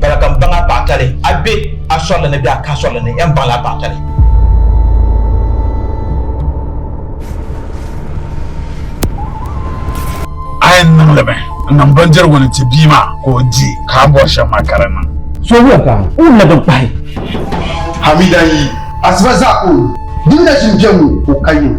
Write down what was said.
Bala ka m baŋ a paɣatali, a be a sɔrili ni bee a ka a sɔrili ni, yɛn baŋla a paɣatali. A yɛn niŋli mi n-niŋ bindirigu ni ti bia maa ka o di, ka a bɔri shɛm maa ka di niŋ. Soobuya ka o ni labi kpahi. Hamida yi asiba zaa ka o di. Di ni nachim biɛŋ ŋɔ ka o ka yiŋa.